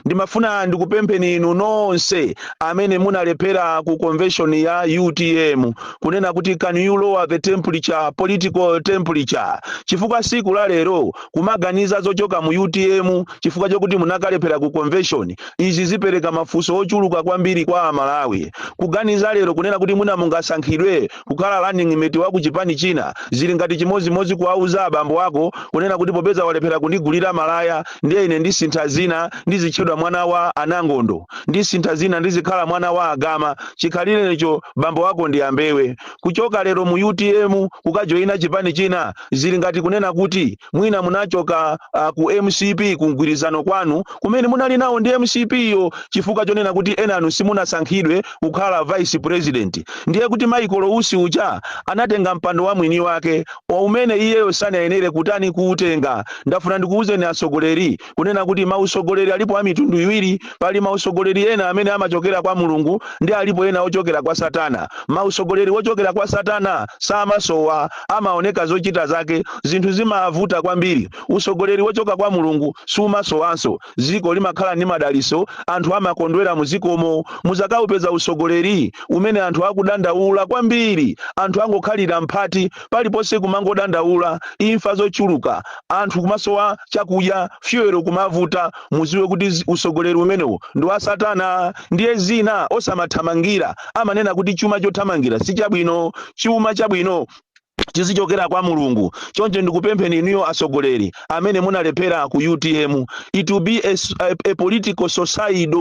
Ndimafuna ndikupempheni inu nonse amene munalephera ku convention ya utm kunena kuti can you lower the temperature, political temperature, chifukwa siku la lero kumaganiza zochoka mu utm chifukwa chokuti munakalephera ku convention izi zipereka mafunso ochuluka kwambiri kwa amalawi kuganiza lero kunena kuti mwina mungasankhidwe kukhala running mate wa ku chipani china zili ngati chimodzimodzi kuwauza abambo ako kunena kuti popeza walephera kundigulira malaya ndiye ine ndisintha dzina ndizitchedwa mwana wa anangondo ndisintha dzina ndizikhala mwana wa agama chikhalirecho bambo wako ndi a mbewe kuchoka lero mu utm kukajoyina chipani china zili ngati kunena kuti mwina munachoka uh, ku mcp ku mgwirizano kwanu kumene munali nawo ndi mcp yo chifukwa chonena kuti enanu simunasankhidwe kukhala vice president ndiye kuti michael usi uja anatenga mpando wa mwini wake umene iyeyo sanayenere kutani kuutenga ndafuna ndikuwuzeni atsogoleri kunena kuti mautsogoleri alipo a mitundu iwiri pali mautsogoleri ena amene amachokera kwa mulungu ndi alipo ena ochokera kwa satana mautsogoleri ochokera kwa satana samasowa amaoneka zochita zake zinthu zimavuta kwambiri utsogoleri wochoka kwa mulungu sumasowanso Dziko limakhala ndi madalitso anthu amakondwera mu dzikomo. Mudzakaupeza utsogoleri umene anthu akudandaula kwambiri. Anthu angokhalira mbati paliponse kumangodandaula, imfa zochuluka, anthu kumasowa chakudya, fuel kumavuta, mudziwe kuti utsogoleri umenewo ndi wa satana. Ndiye zina osamathamangira, amanena kuti chuma chothamangira si chabwino. Chuma chabwino. chizichokera kwa Mulungu. Choncho ndikupempheni inuyo atsogoleri amene munalephera ku utm, it will be a, s- a, a political suicide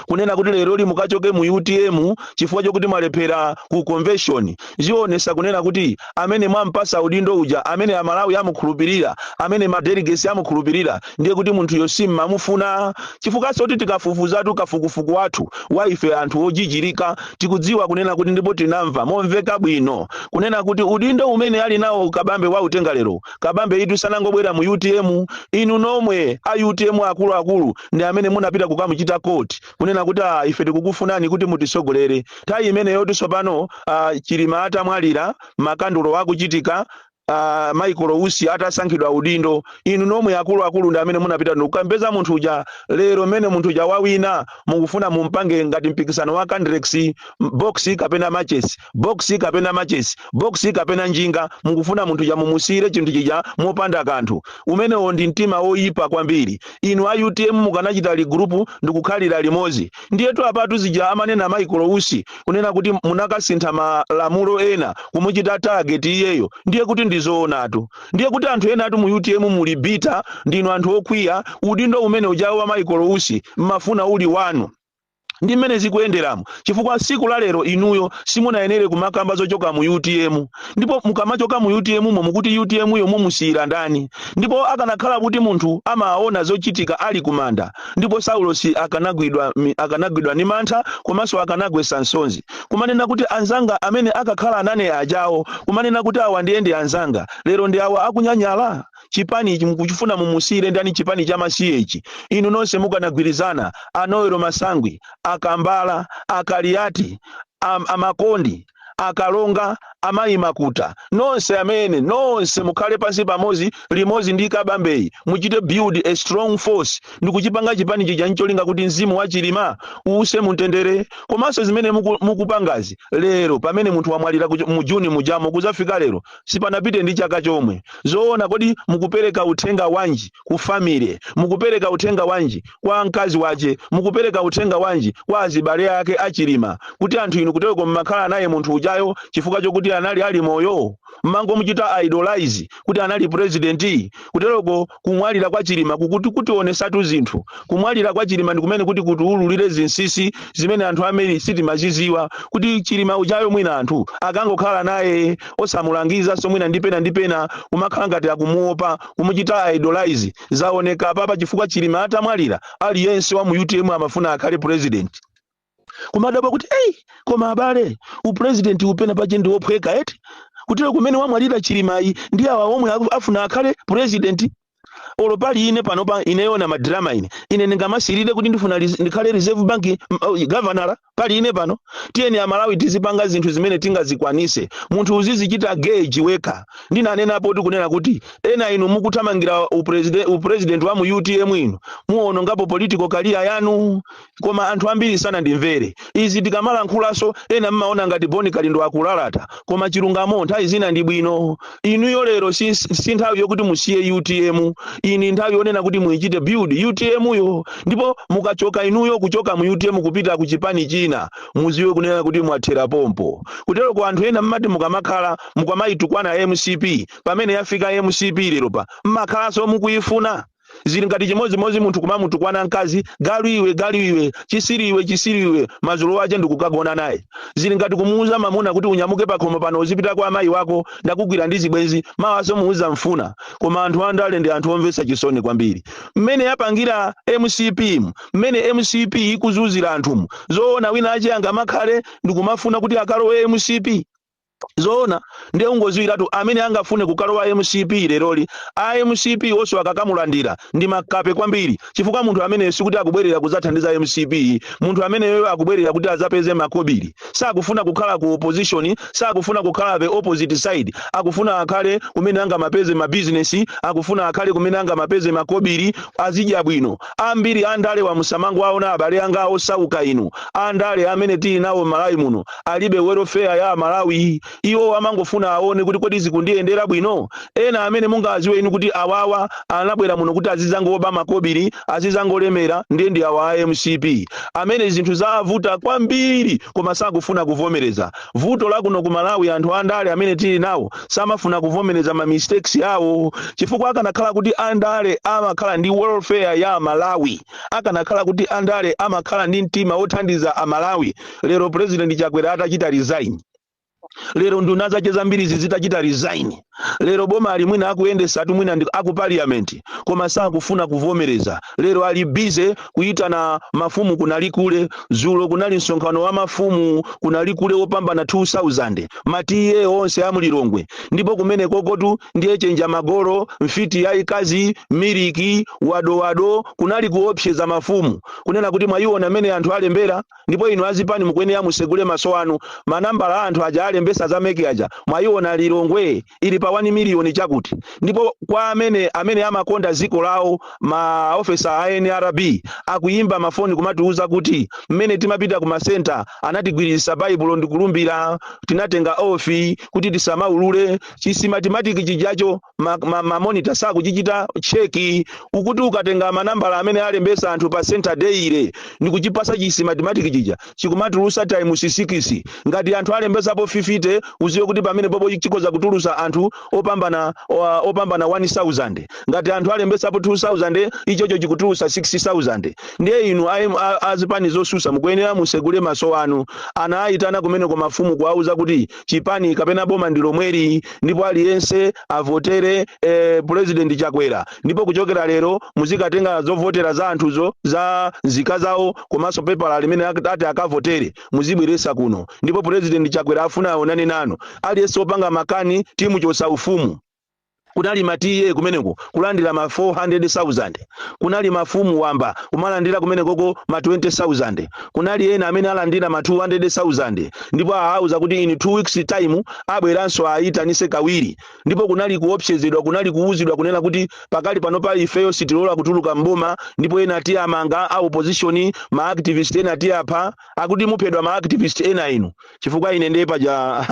kunena kuti leroli mukachoke mu utm chifukwa chokuti mwalephera ku convention. Zionesa kunena kuti amene mwampasa udindo uja, amene amalawi amukhulupirira, amene madelegates amukhulupirira ndiye kuti munthuyo simmamufuna chifukwa choti tikafufuzatu kafukufuku wathu wa ife anthu ojijirika tikudziwa kunena kuti ndipo tinamva momveka bwino kunena kuti udindo umene ali nawo kabambe wautenga lero kabambeyitu sanangobwera mu utm inu nomwe a utm akuluakulu ndi amene munapita kukamuchita court kunena kuti ah, ife tikukufunani kuti mutitsogolere nthawi imeneyo tsopano ah, chilima atamwalira makandulo akuchitika uh, Michael Usi atasankhidwa udindo, inu nomwe akuluakulu ndi amene munapita ndikukampeza munthu uja. Lero mmene munthu uja wawina, mukufuna mumpange ngati mpikisano wa Candrex box kapena matches, box kapena matches, box kapena njinga. Mukufuna munthu uja mumusiyire chinthu chija mopanda kanthu. Umenewo ndi mtima woyipa kwambiri. Inu a UTM mukanachita regroup ndikukhalira limodzi. Ndiyetu apatu zija amanena Michael Usi kunena kuti munkasintha malamulo ena kumuchita target iyeyo ndiye kuti ndizoonatu. Ndiye kuti anthu enatu mu utm muli bitter ndinu anthu okwiya udindo umene ujawo wa Michael Usi mmafuna uli wanu. Ndi mmene zikuyenderamo chifukwa tsiku la lero inuyo simunayenere kumakamba zochoka mu utm ndipo mukamachoka mu utm mo mukuti utm yo mumusiyira ndani ndipo akanakhala kuti munthu amaona zochitika ali kumanda Ndipo Saulosi akanagwidwa mi, akanagwidwa ndi mantha komanso akanagwetsa nsonzi. Kumanena kuti anzanga amene nkakhala nane ajawo, kumanena kuti awa ndiye ndi anzanga, lero ndi awa akunyanyala? Chipani ichi mukufuna mumusiire ndani chipani cha masiye ichi? Inu nonse mukanagwirizana, a Noel Masangwi, a Kambala, a Kaliati, a, a Makondi, akalonga, amayi makuta, nonse amene, nonse mukhale pansi pamodzi limodzi ndi Kabambeyi muchite build a strong force ndikuchipanga chipani chija ncholinga kuti mzimu wa Chilima uuse muntendere komanso zimene muku, mukupangazi lero pamene munthu wamwalira ku- mu June mujamo kuzafika lero sipanapite ndi chaka chomwe zoona kodi mukupereka uthenga wanji ku family mukupereka uthenga wanji kwa mkazi wache mukupereka uthenga wanji kwa azibale ake a Chilima kuti anthu inu kutereko mmakhala naye munthu ujayo chifukwa chokuti anali ali moyo mmangomuchita idolize kuti anali president kutereko kumwalira kwa Chilima kuti kutionesatu zinthu kumwalira kwa Chilima ndi kumene kuti kutiululire zinsisi zimene anthu amene sitimaziziwa kuti Chilima ujayo mwina anthu ankangokhala naye osamulangiza so mwina ndipena ndipena kumakhala ngati akumuopa kumuchita idolize Zaoneka apapa chifukwa Chilima atamwalira aliyense wa mu utm amafuna akhale president. Kumadabwa kuti ei koma abale upresident uwu penapache ndi wophweka eti kutero kumene wamwalira Chilimayi ndi awa omwe aku- afuna akhale president. Olo pali ine panopa ineyo na madrama ine ine ndingamasirire kuti ndifuna ris- ndikhale reserve bank mm, oh, governor pali ine pano tiyeni amalawi tizipanga zinthu zimene tingazikwanise munthu uzizichita gauge wekha ndinanenapo kuti kunena kuti ena inu mukuthamangira upreside- upresident wa mu utm inu muwonongapo political career yanu koma anthu ambiri sanandimvere izi tikamalankhulaso ena mmaona ngati Bon Kalindo akulalata koma chilungamo nthawi zina ndi bwino inuyo lero si, si nthawi yokuti musiye utm ino ndi nthawi yonena kuti muichite build utm yo ndipo mukachoka inuyo kuchoka mu utm kupita ku chipani china muziwe kunena kuti mwathera pompo kutero kwa anthu ena mmati mukamakhala mukamayitukwana mcp pamene yafika mcp lero pa mmakhalanso mukuifuna zili ngati chimodzimodzi munthu kumamutukwana mkazi galu iwe galu iwe chisiri iwe chisiri iwe madzulo wache ndikukagona naye zili ngati kumuuza mamuna kuti unyamuke pakhomo pano uzipita kwa amayi wako ndakugwira ndi zibwenzi mawaso muuzamfuna koma anthu andale ndi anthu omvetsa chisoni kwambiri mmene yapangira mcpmu, mmene mcp ikuzuzira anthumu zoona wina ache angamakhale ndikumafuna kuti akalowe mcp zoona ndiye ungoziwiratu amene angafune kukalowa mcp leroli a mcp wonso akakamulandira ndi makape kwambiri chifukwa munthu ameneyo sikuti akubwerera kudzathandiza mcp munthu ameneyoyo akubwerera kuti adzapeze makobiri sakufuna kukhala ku opposition sakufuna kukhala the opposite side akufuna akhale kumene angamapeze mabizinesi akufuna akhale kumene angamapeze makobiri azidya bwino Ambiri andalewa musamangowaona abale anga osauka inu. Andale amene tili nawo m'Malawi muno alibe welfare ya Amalawi. Iwowo amangofuna aone kuti kodi zikundiyendera bwino? Ena amene mungawadziwe inu kuti awowa anabwera muno kuti azidzangoba makobiri, azidzangolemera ndiye ndi awa a mcp amene zinthu zawavuta kwambiri koma sakufuna kuvomereza. Vuto lakuno ku Malawi anthu andale amene tili nawo samafuna kuvomereza ma mistakes awo chifukwa akanakhala kuti andale amakhala ndi welfare ya amalawi akanakhala kuti andale amakhala ndi mtima wothandiza amalawi lero president Chakwera atachita resign lero nduna zache zambirizi zitachita resign lero boma ali mwina akuyendesa anthu mwina ndi- aku parliament koma sakufuna kuvomereza lero ali busy kuyitana mafumu ku Nalikule zulo kunali msonkhano wa mafumu ku Nalikule wopambana 2000 ma TA onse a mu Lilongwe ndipo kumene kokotu ndiye Ching'amba Golo mfiti yayikazi miliki wadowado kunali kuopseza mafumu kunena kuti mwayiona mmene anthu alembera ndipo inu azipani mukuyenera musegule maso anu manambala a anthu aja alembesa za mec aja mwayiona lilongwe ili pa 1 miliyoni chakuti ndipo kwa amene amene amakonda ziko lawo ma ofesa a nrb akuyimba mafoni kumatiuza kuti mmene timapita ku masenta anatigwiririsa baibulo ndikulumbira tinatenga oath kuti tisamaulule chi system mathematic chijacho ma, ma, ma monitor sakuchichita cheki ukuti ukatenga manambala amene alembesa anthu pa center daily ndi kuchipasa chi system mathematic chija chikumatulusa times sikisi ngati anthu alembesapo 50 uziwe kuti pamenepopo chikoza kutulusa anthu opambana oa- opambana 1000 ngati anthu alembesapo 2000 ichocho chikutulusa 6000 ndiye inu aim- a- azipani zosusa mukuyenera musegule maso anu anawayitana kumeneko mafumu kuwauza kuti chipani kapena boma ndi lomweli ndipo aliyense avotere eh, president chakwera ndipo kuchokera lero muzikatenga zovotera za anthuzo za nzika zawo komanso pepala limene ak- ati akavotere muzibweresa kuno ndipo president chakwera afuna aonane nanu aliyense opanga makani timuchosa ufumu Kunali ma TA kumeneko kulandira ma 400,000. Kunali mafumu wamba kumalandira kumenekoko ma 20,000. Kunali ena amene alandira ma 200,000 ndipo aawuza kuti in two weeks time abweranso aayitanise kawiri. Ndipo kunali kuopsezedwa kunali kuwuzidwa kunena kuti pakali panopa ifeyo sitilola kutuluka m'boma ndipo ena tiamanga a opposition ma activist ena tiapha. Akuti muphedwa ma activist ena inu. chifukwa ine ndiye paja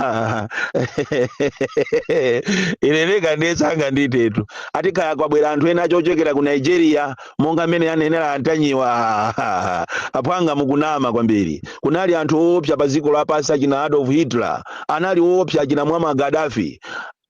ine ndeka ndiye sanganditetu ati kaya kwabwera anthu ena ochokera ku nigeria monga mmene anenera a Ntanyiwa aphwanga mukunama kwambiri kunali anthu oopsa pa dziko lapansi achina adolf hitler analiko oopsa achina Muammar Gaddafi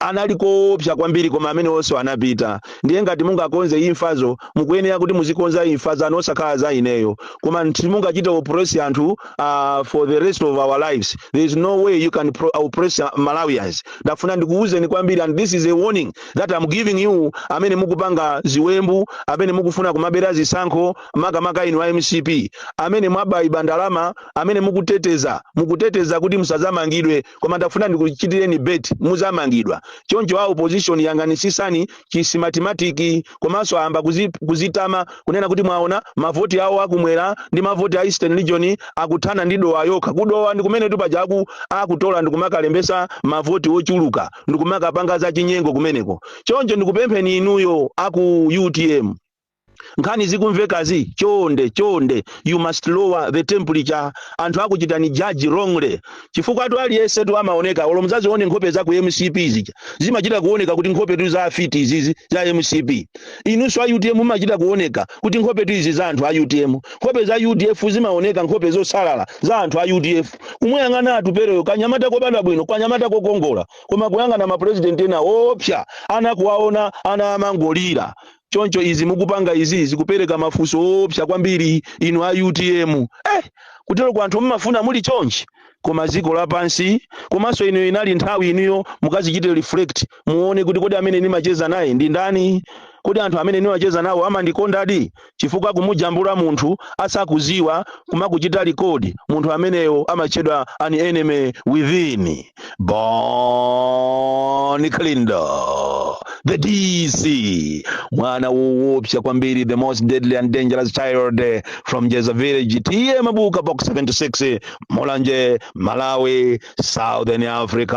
analiko oopsa kwambiri koma amenewo onse anapita ndiye ngati mungakonze imfazo mukuyenera kuti muzikonza imfa zanu osakhala za ineyo koma simungachite oppress anthu uh, for the rest of our lives there is no way you can pro- oppress uh, malawians ndafuna ndikuwuzeni kwambiri and this is a warning that I'm giving you amene mukupanga ziwembu amene mukufuna kumabera zisankho makamaka inu a mcp amene mwaba iba ndalama amene mukuteteza mukuteteza kuti musazamangidwe koma ndafuna ndikuchitireni bet muzamangidwa choncho a opposition yang'anisisani chisimatematiki komanso ayamba kuzi, kuzitama kunena kuti mwaona mavoti awo akumwera ndi mavoti a eastern region akuthana ndi dowa yokha kudowa ndi kumenetu paja aku akutola ndikumakalembesa mavoti ochuluka ndikumakapanga zachinyengo kumeneko choncho ndikupempheni inuyo aku utm nkhani zikumvekazi chonde chonde you must lower the temperature anthu akuchitani judge wrongly chifukwatu aliyensetu amaoneka olo mudzazione nkhope za ku mcp zija zimachita kuoneka kuti nkhopetu za afiti izizi za mcp inunso a utm mumachita kuoneka kuti nkhopetu izi za anthu a utm nkhope za udf zimaoneka nkhope zosalala za anthu a udf kumuyang'ana Atupeleyo kanyamata kobadwa bwino kanyamata kokongola koma kuyang'ana mapurezidenti ena oopsa ana kuwaona ana amangolira Choncho izi mukupanga izi zikupereka mafunso oopsa kwambiri inu a utm. Eh! Kuteroko anthu mumafuna muli chonchi? Koma dziko lapansi. Komanso ino inali nthawi inuyo mukadzichite reflect muone kuti kodi amene ndimacheza naye ndi ndani? Kodi anthu amene ndimacheza nawo amandikondadi? Chifukwa kumujambula munthu asakudziwa kumakuchita record, munthu ameneyo amatchedwa an enemy within. Bonnie Kalindo, the DC, mwana woopsa kwambiri, the most deadly and dangerous child eh, from Jeza Village, TM Mabuka Box 76, Mulanje, Malawi, Southern Africa.